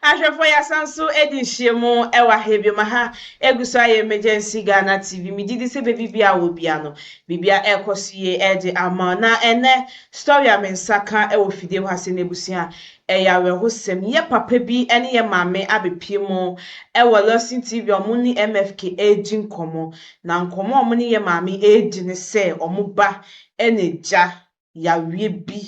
Ahwɛfoɔ yɛasan nso adi nhyiamu ɛwɔ ha biom aha egu so ayɛ emergency Ghana TV megye di sɛ baabi biara wɔ biara no biribiara ɛrekɔ so yie ɛde ama wo na ɛnɛ story a me nsa ka ɛwɔ fidie hɔ ha sɛ n'abusua ɛyɛ awerɛhosɛm yɛ papa bi ɛne yɛ maame abɛpie mu ɛwɔ Lawson TV a wɔn ne MFK ɛredi nkɔmɔ na nkɔmɔ a wɔn ne yɛ maame ɛredi ne sɛ wɔn ba ɛna gya yareɛ bi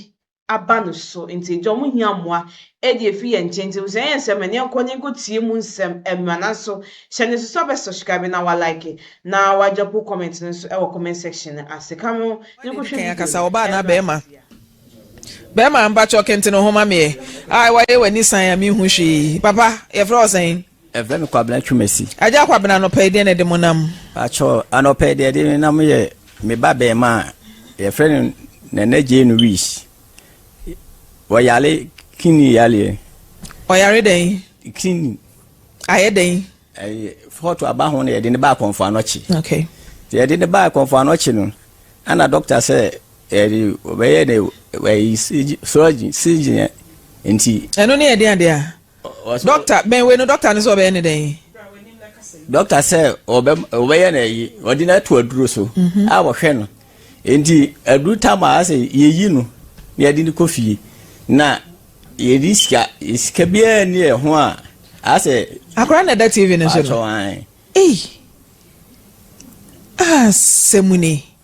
aba no so ntsi nkyɛ ɔmo hia mboa dze efi hɛn nkyɛn ntsi ebusua yɛ nsɛm nea nkɔ n'enyi nkotsie mu nsɛm mber naaso hyɛ no susu abɛ subscribe na wa like na wa drop wo comment no so wɔ comment section no ase ka mo ho nkɔ hwɛ video no ɔbaa anaa bɛɛma bɛɛma mpakyɛw kentsen wo ho ma me ɛ ae waye w'ani san a me hu hwee papa yɛfrɛ wo sɛn. Yɛfrɛ me Kwabena Twumasi. Agya Kwabena, anɔpa yi deɛ na ɛde mo nam? Pakyɛ, anɔpa yi deɛ ɛde me nam yɛ me ba bɛɛma a yɛfrɛ no Nana Jay Nuis. Wɔyare kini yareɛ. Ɔyare dɛn? Kini. Ayɛ dɛn? Ɛyɛ fɔɔto aba ho na yɛde ne baa kɔnfɔ anɔkye. Okay. Te yɛde ne baa kɔnfɔ anɔkye no, ɛna dɔkta sɛ ɛde ɔbɛyɛ ne ɛyi surgeon surgeon nti. Ɛno ne yɛde adeɛ a. Dɔkta, bɛn wei no dɔkta no sɛ ɔbɛyɛ ne dɛn? Dɔkta sɛ ɔbɛyɛ no ayi, ɔde no ato aduro so mhm. a wɔhwɛ no. Nti aduru tam a sɛ yɛyi no na yɛde no kɔ fie na yɛde sika sika biara ni yɛ ho a asɛ. Akora na ɛda TV no so no. Asɛm ni.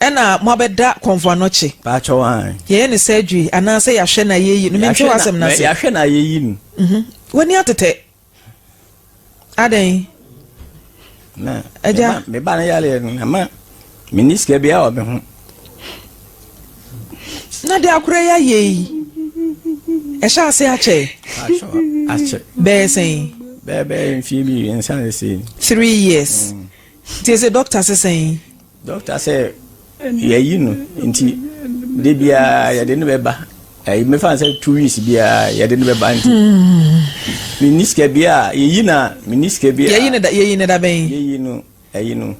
ɛna mo abɛda kɔnvoanɔkye. Paakyɛw an. Yɛyɛ no surgery anaa sɛ yahwɛ no ayɛyi no mente w'asɛm no ase. Yahwɛ no ayɛyi no. Mhm. W'ani atetɛ. Adɛn? Na. Agya. Me ba no yaleɛ no na ma menni sika biara wɔ me ho. Na de akora yi ayɛ yi ɛhyɛ ase akyɛ. Paakyɛw akyɛ. Bɛyɛ sɛn? Bɛyɛ bɛyɛ mfie bi nsa ne sei. Three years. Mm. Tie se dɔkta se sɛn? Dɔkta sɛ yɛayi no nti de biara yɛde no bɛba ɛyi mefa no sɛ two weeks biara yɛde no bɛba nti menni sika biara yɛyi no a menni sika biara yɛyi no da bɛn yɛyi no ɛyi no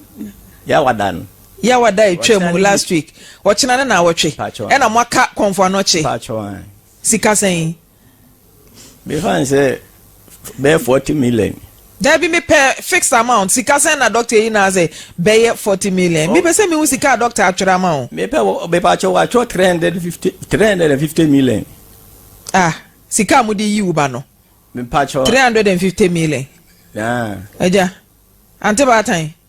yɛawada no yɛawada ɛtwa mu last week ɔkyena ne na awɔtwe ɛna moaka kɔmfoanɔkye sika sɛn Me fa n sɛ bɛyɛ forty million. Dabi me pɛ fixed amount sika sɛn na doctor eyi na asɛ bɛyɛ forty million me pɛ sɛ me hu sika a doctor atwerɛ ama o. Me pɛ me pɛ atwerɛ wa atwerɛ three hundred fifty three hundred and fifty million. Ah sika a mo de yi wo ba no. Me pɛ atwerɛ. Three hundred and fifty million. Naa. Ɛgya ante baatan.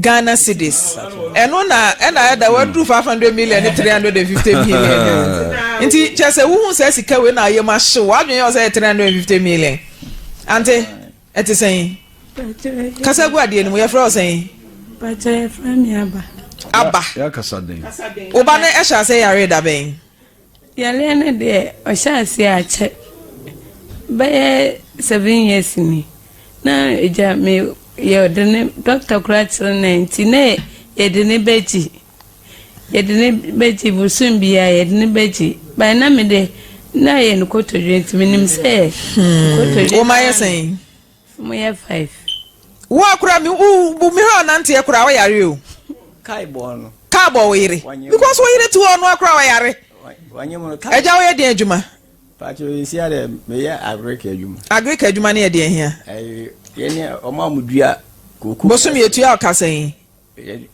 Ghana cedis ɛno na ɛna ayɛ da waduru five hundred million ne three hundred and fifty million nti kyɛ sɛ wohu sɛ sika wei na ayɛ mu ahyew wadwene yɛ sɛ three hundred and fifty million ante ɛte sɛn kasa gu adeɛ no mu yɛfrɛ wo sɛn pàtó yɛfrɛ mi aba aba yɛakasa den woba no ɛhyɛ asɛ yare da bɛn Yareɛ no deɛ ɔhyɛɛ aseɛ akyɛ bɛyɛ seven years ni na agya me yɛde ne dɔkta koraa kyerɛ no nti na yɛde ne bɛgye yɛde ne bɛgye bosom biara yɛde ne bɛgye baa na me de na yɛ no kotodwe nti menim sɛ hmm. kotodwe wɔn ayɛ sɛn. Mo yɛ five. Wo akora mi wo bu mi hɔ ɔnante akora wo yare o. Kai bɔ no. Kai bɔ wo yere. Because wo yere ti hɔ ɔno akora wo yare. Wanyɛ mo no kai. Ɛgya wo yɛ den adwuma. Pacho yɛ si adɛ me yɛ agric adwuma. Agric adwuma ne yɛ deɛ hia. Ɛyɛ yɛ ne ɔmo a mo dua koko. Bosom yɛ tua ɔkasa yi.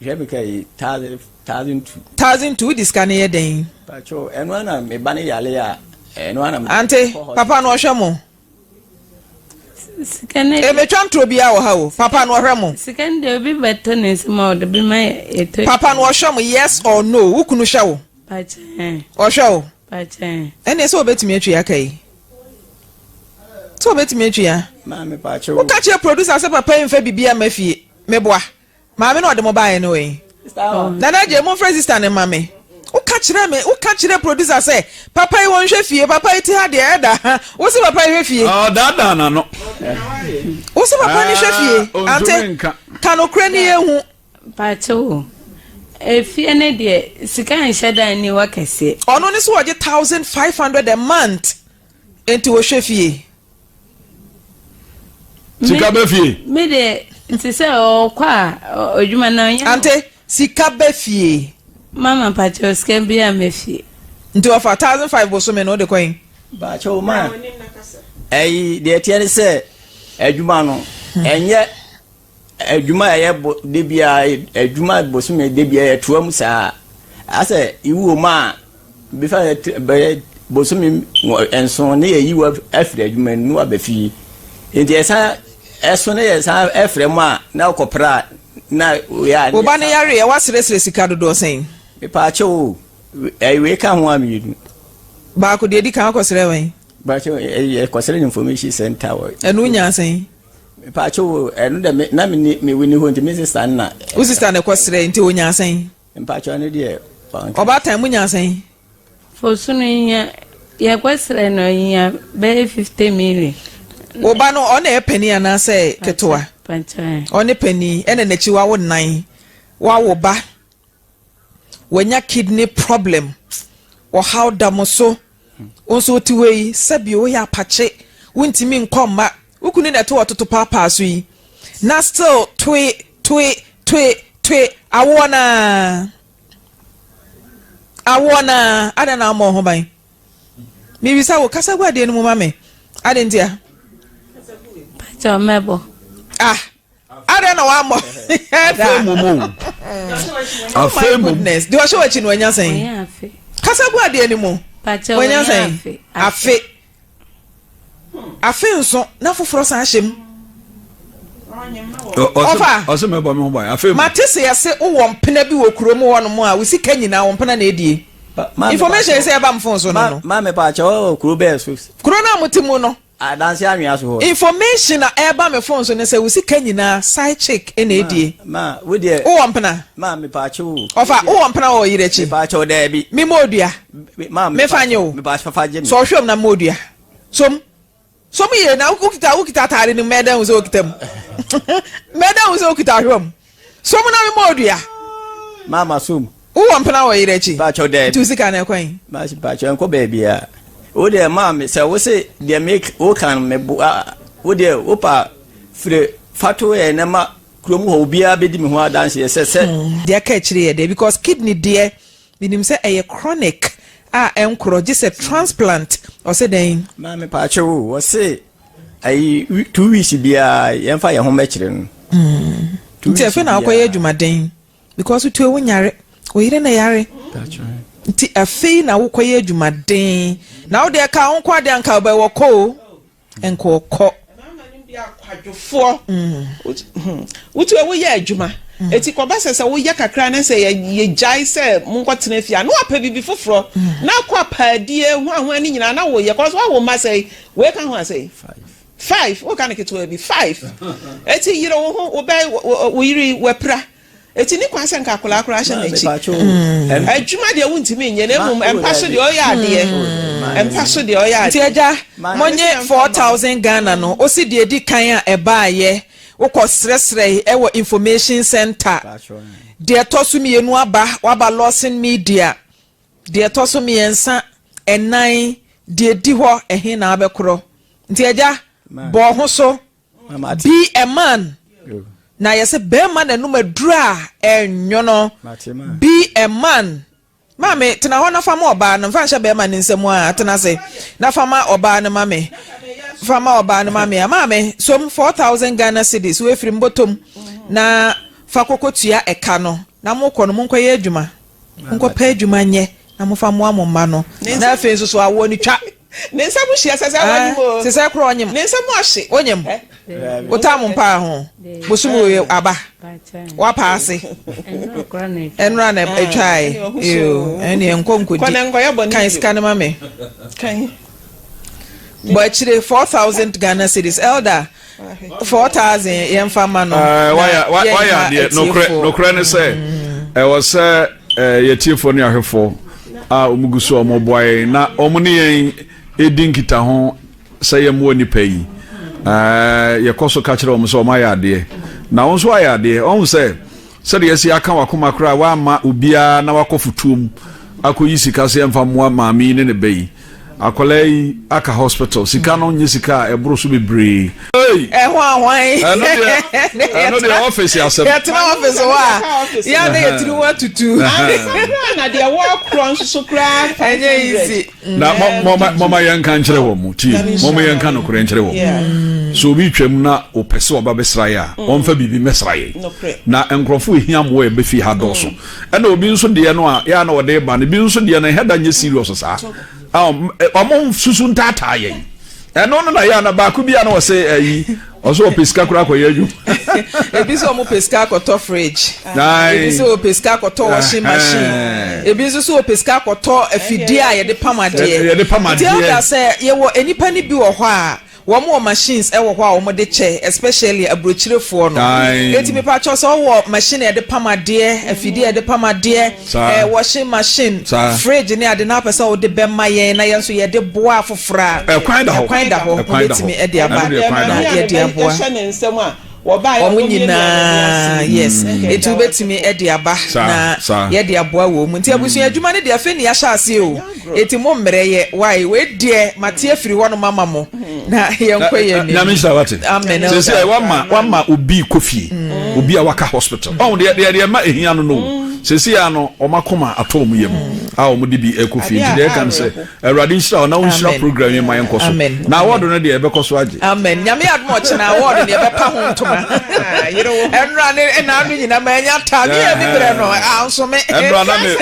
Hwɛ mi kai thousand thousand two. Thousand two wo di sika ne yɛ den. Pacho ɛno ana me ba ne yare a ɛno ana me. Ante papa no ɔhwɛ mo. Ebetwa ntoro biara wɔ ha o. Papa no ɔhwɛ mo. Sika no deɛ obi bɛtɔ ne nsam a ɔde bi ma yɛtɔ. Papa no ɔhwɛ mo yes or no wo kunu hwɛ wo. Pakyɛn. Ɔhwɛ wo. Pakyɛn. Ɛnna sɛ obetumi atwi aka yi sɛ obetumi atwi ya. Maame pakyɛn. Woka kyerɛ producer sɛ papa yi nfa bibi ama fie meboa. Maame na ɔde mo baeɛ no wei. Nana Jay momfrɛ sister no mma me. Woka kyerɛɛ me, woka kyerɛɛ producer sɛ papa yi wɔnhwɛ fie, papa yi ti ha deɛ ɛda ha. Wo se papa yi hwɛ fie. Ɔdaadaa n'ano. Wo se papa no hwɛ fie. Ah, Ante, ontumi nka. ka nokorɛ ne yɛnhu. Pakyɛ o, efie ne deɛ sika nhyɛ da nni hɔ kɛseɛ. Ɔno ne sɛ ɔgye thousand five hundred a month. Enti wohwɛ fie? Sika bɛ fie? Me de nti sɛ ɔkɔ a adwuma na ɔnyɛ. Ante sika bɛ fie? Mama mpakyɛw sika bi a mɛ fie. Nti ɔfa thousand five bosome no ɔde kɔ yen? Mpakyɛw ma. Ɛyi deɛ ɛteɛ ne sɛ adwuma no ɛnyɛ Adwuma a ɛyɛ bo da biara, adwuma bosome da biara ɛtoa mu saa. Asɛ iwuo mu a, bɛfa bɛyɛ bosome nson ne yɛyi wo afiri adwuma mu na waba fie. Nti ɛsan ɛso ne yɛsan ɛfrɛ mu a na wokɔpra a na woyɛ a. Wo ba no yareɛ woasrɛsrɛ sika dodoɔ sɛn? Mepaakyɛw o, wei ka ho a mmienu. Baako deɛ ɛdi kan wokɔsrɛɛ wɛn? Mepaakyɛw, yɛkɔsrɛɛ no information centre hɔ. Ɛno wonyaa sɛn? Mepaakyɛw o, ɛno dɛ me na menni me winnie hɔ nti me sista no na. Wo sista na ɛkɔ srɛ nti onya asɛn. Mepaakyɛw ɛno deɛ wanka. Ɔbaatan mo nya asɛn. Fosunu hia yɛkɔ srɛ no ohia bɛyɛ fifty million. Wo ba no ɔna yɛ panin anaasɛ ketewa? Ɔne panin ɛna n'akyi wawo nan wawo ba. wanya kidney problem ɔhaw da mo so wo nso wote hɔ yi sɛbi woyɛ apakye wontumi nkɔ mma wo kunu na ɛte wɔ toto paapaa so yi na still toe toe toe toe awoɔ na awoɔ na adɛn na ama ho ban mebisa wo kasa gu adeɛ no mu ma me adɛn ntia ah adɛn na wammɔ afei mmom o afei mmom deɛ ɔhyɛ w'akyi no wanya sɛn kasa gu adeɛ no mu wanya sɛn afe afe nso na foforɔ san ahyɛ mu ɔfa mate sɛ yɛse wowɔ mpena bi wɔ kurom hɔ nom a wo sika nyinaa wo mpena na ɛdie information sɛ ɛba mfo so no no kuro no a mote mu no Adanse anwea so hɔ no. Information a ɛba me phone so ne sɛ wo sika nyinaa side chick na ɛdie. Ma, ma, wo deɛ. Wowɔ mpena? Ma, mepaakyɛ wo. Ɔfa, wowɔ mpena wɔ ɔyere akyi? Mepaakyɛ wo, daabi. Me mmɔ odua? Ma, mepaakyɛ. Mefa nye wo? Mepaakyɛ, fa gye me. Sɔ ɔhwɛ mu na mmɔ odua. Som. Som yie na wokita, wokita ataade no mu, mɛda hu sɛ wokita mu. Mɛda hu sɛ wokita ɔhwɛ mu. So mo na me bɔɔ dua. Ma ma so mu. Wo wɔ mpena wɔ yere akyi. Baakyɛw dɛbi. Nti wo sika no ɛkwan. Ma si baakyɛw nkɔ baabi a. Wo deɛ ma me sɛ wo se deɛ me wo kan me bo a wo deɛ wo pa fire fato yɛ ne ma kurom hɔ obiara bɛdi me ho adanseɛ sɛ sɛ. Deɛ ɛka akyire yɛ dɛ because kidney deɛ menim sɛ ɛyɛ chronic a ɛnkorɔ gye sɛ transplant ɔse dɛn. Maame paakyew o ɔse ayi two weeks biara yɛn fa yɛn ho mɛkyerɛ no. Hmm. nti afei na akɔyɛ adwumaden because wotu ewu nyare oyere na yare nti afei na wokɔyɛ adwumaden na wode ɛka wo nkɔ ade anka ɔbɛ wɔ kɔ o nka ɔkɔ. akwadwofoɔ hmm. wotu ewu yɛ adwuma hmm. eti kɔba sɛ sɛ woyɛ kakra ne sɛ yɛgyae sɛ monkɔ tena fie a na wapɛ biribi foforɔ na akɔ apaadie ho ahoa ne nyinaa na woyɛ kɔ so awo ma sɛ Wei ka ho asɛn. Five, wo ka no ketewa bi. Five, eti yere wo ho, wo bɛn, wo yere yi, wapira. Eti ne kwan sɛ nka akwadaa koraa hyɛ n'akyi. Adwuma deɛ wontumi nyɛ, na mmom mpa so deɛ ɔyɛ adeɛ. Mpa so deɛ ɔyɛ adeɛ. Nti agya, monnye four thousand Ghana no, wo se deɛ edi kan a ɛbaeɛ, wokɔ srɛsrɛe ɛwɔ information centre. Deɛ ɛtɔ so mmienu aba, waba Lawson Media. Deɛ ɛtɔ so mmiɛnsa, ɛnan, deɛ ɛdi hɔ, ɛhe na abɛkorɔ? Nti agya, bɔ wo ho so, be a man. Na yɛse barima na anum aduru a, ɛnwono. Be a man. Maame, tena hɔ na fa ma ɔbaa no, mfa nhyɛ barima no nsam a, tena ase, na fa ma ɔbaa no ma me. Fa ma ɔbaa no ma me a, maame, som 4,000 Ghana cedis, wei firi mbɔtɔm, na fa kɔkɔtua ɛka no, na mokɔ no monkɔyɛ adwuma. Monkɔpɛ adwuma nyɛ na momfa mmoa mo mma no. Na afei nso so awoɔ no twa. Ne nsam hyia sɛ sɛ ɔnyem o. Sɛ sɛ korɔ ɔnyem. Ne nsam ɔhye. Onyem. Wotaa mo mpaa ho. Bosom oe aba. Wapa ase. Ɛnora na ɛtwae. Eo. Ɛneɛ nkɔ nkɔdi. Kɔ na nkɔyɛ bɔne bio. Kan sika no ma me. Kan. Bɔ akyire four thousand Ghana cedis. Elder. 4000 yɛmfa ma no eh, wayɛ adeɛ nokorɛ ne sɛ mm. ɛwɔ sɛ eh, yɛtiefoɔ ne ahwɛfoɔ a ɔmugu so ɔmɔboa yɛn na ɔmo ne yɛn ɛdi nkita ho sɛ yɛmmoa nnipa yi eh, yɛkɔ so ka kyerɛ ɔm sɛ ɔmayɛ adeɛ na wo nso ayɛ adeɛ ɔhu sɛ sɛdeɛ ɛsi aka wakoma koraa woama obiara na wakɔ fotuom akɔyi sika sɛ ɛmfa mmoa maame yi ne ne bɛ yi Akwadaa yi aka hospital sika no nye sika a ɛboro so bebree. Ɛho ahwan ɛno deɛ ɔfisi asɛm yɛtena ɔfisi hɔ a yɛn na yɛtiri ho atutu na deɛ wɔkorɔ nso so koraa ɛnyɛ easy na mɔma yɛn nka nkyerɛ wɔn mu tie mɔma yɛn nka nokorɛ nkyerɛ wɔn mu so obi twam na ɔpɛ sɛ ɔba bɛsra yɛ a ɔmfa biribi mɛsra yɛ na nkurɔfoɔ ehia mmoa ɛbɛfi ha dɔɔso mm. Ɛna obi nso deɛ no a yɛ a na ɔde ba no bi nso deɛ no ɛhɛ da nyɛ serious saa ɔmo susu ntaataa yɛn ɛno no na yɛ a na baako bi a na ɔsɛ ɛyi ɔsɛ ɔpɛ sika koraa kɔyɛ adwuma ebi sɛ ɔmo pɛ sika akɔtɔ fridge ebi sɛ ɔpɛ sika akɔtɔ washing machine ebi nso sɛ ɔpɛ sika akɔtɔ afidie a yɛde pam adeɛ yɛde pam adeɛ nti ɛda sɛ yɛwɔ nnipa no bi wɔ hɔ a Wɔn wɔ machines wɔ hɔ a wɔn de kyɛ especially aburokyirefoɔ no. Eti mi pa kyɛw sɛ ɔwɔ machine a yɛde pam adeɛ, afidie a yɛde pam adeɛ, ɛɛ washing machine, fridge ne ade na apɛ sɛ ɔde bɛ ma yɛn na yɛn nso yɛde boa afoforɔ a, ɛkwan da hɔ, mo bɛ tumi ɛde aba na yɛde aboa. wɔn nyinaa yes nti wobɛtumi de aba na yɛde aboa wɔn mu nti abusua adwuma no deɛ afei ne yɛahyɛ aseɛ o ɛti mo mmerɛ yɛ wae wei deɛ mate afiri hɔ no mama mo na yɛnkɔ yɛ ni nyame nhyira wate amen sɛ sɛ wama wama obi kɔ fie mm. obi a waka hospital ɔn mm. deɛ deɛ deɛ ma ɛhia no no mm. sɛ si ya no ɔma koma atɔ ɔmo yam a ɔmo de bi ɛkɔ fie nti deɛ ɛka no sɛ Awurade nhyira wo na wo nhyira program yi ma yɛn kɔ so. Na awɔdo no deɛ ɛbɛkɔ so agye. Amen. Nyame adum ɔkyena awɔdo deɛ ɛbɛpa ho ntoma. Ɛnura ne ɛna no nyina ma ɛnya ta. Ne yɛ bi brɛ no. Ansome. Ɛnura na me.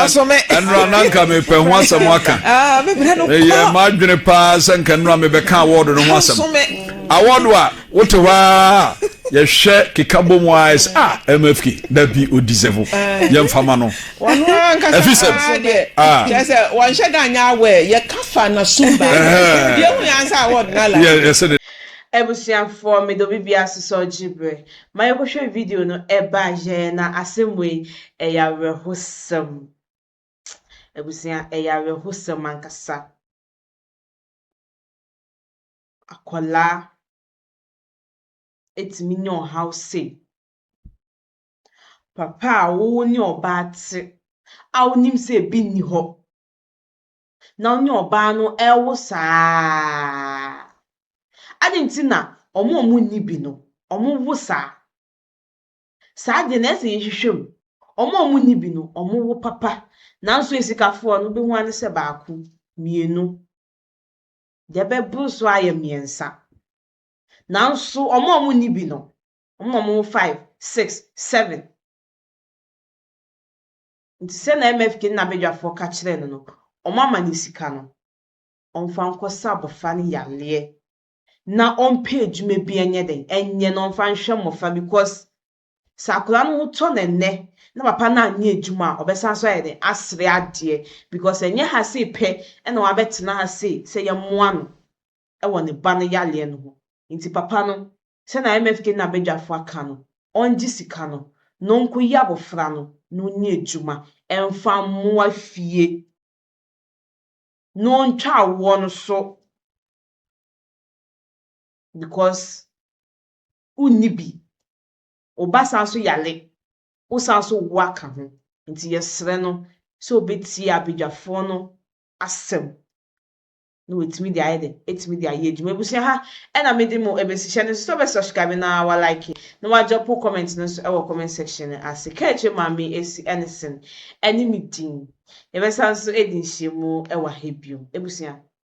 Ansome. Ɛnura na nka me pɛ ho asɛm aka. Ah, me brɛ no kwa. Ɛyɛ ma adwene paa sɛ nka ɛnura me bɛka awɔdo no ho asɛm. Ansome. Awɔdo a Wote hɔ ara a, yɛhwɛ keka bɔ mu ara sɛ, ah, MFK, da bi o deserve, yɛn fa ma no. Wɔn ara nkasa Ɛfi sɛ, paa deɛ. ah, Kyerɛ sɛ wɔnhyɛ da nyɛ aware. Yɛka fa na sum ba. Ɛhɛɛ. Deɛ hu yɛ ansa a wɔde na yɛ- life. yɛsɛ de. Abusuafoɔ mede obi biara asosɔ gye berɛ ma yɛkɔhwɛ video no ɛba yɛɛ na asɛm wei ɛyɛ awerɛhosɛm abusua ɛyɛ awerɛhosɛm ankasa. akwadaa atumi anya ɔhaw sei. Papa a wo ne ɔbaa te a wonim sɛ ebi nni hɔ na wo ne ɔbaa no rewo saa ara. Adɛn nti na wɔn a wɔnni bi no, wɔwo saa? Saa deɛ na ɛyɛ sɛ yɛhwehwɛ mu. Wɔn a wɔnni bi no, wɔwo papa. Nanso asikafoɔ no, wobɛhu ara ne sɛ baako, mmienu. deɛ ɛbɛboro so ayɛ mmiɛnsa. Nanso wɔn a wɔnni bi no, wɔn na wɔwɔ five, six, seven. Nti sɛ na MFK ne n'abadwafoɔ ka kyerɛɛ no no, wɔama no sika no, ɔmfa nkɔsa abɔfra no yareɛ na ɔmpɛ adwuma bi nyɛ dɛn, nyɛ na ɔmfa nhwɛ mmɔfra because Sɛ akwadaa no ho tɔ no ɛnnɛ na papa no anyɛ adwuma a, ɔbɛsan nso ayɛ dɛn? Asere adeɛ because ɛnyɛ ha sei pɛ na wabɛtena ha sei sɛ yɛmmoa no wɔ ne ba no yareɛ no ho. Nti papa no, sɛdeɛ IMF Kenya badwafoɔ aka no, ɔngye sika no na ɔnkɔyi abɔfra no na ɔnni adwuma mfa mmoa fie na ɔntwa awoɔ no so because wonni bi, wo ba san so yare, wo san so wo aka ho. Nti yɛsrɛ no sɛ ɔbɛtie abadwafoɔ no asɛm na watumi de ayɛ dɛ, atumi de ayɛ adwuma. Abusua ha ɛna mede mo ɛbɛsi, hyɛ no nso sɛ ɔbɛ subscribe na wa like na wa dropo comment no nso ɛwɔ comment section no ase. Ka akyire Maame Asi Ennison ɛne me din. Yɛbɛsan so adi nhyiamu ɛwɔ ha biom abusua.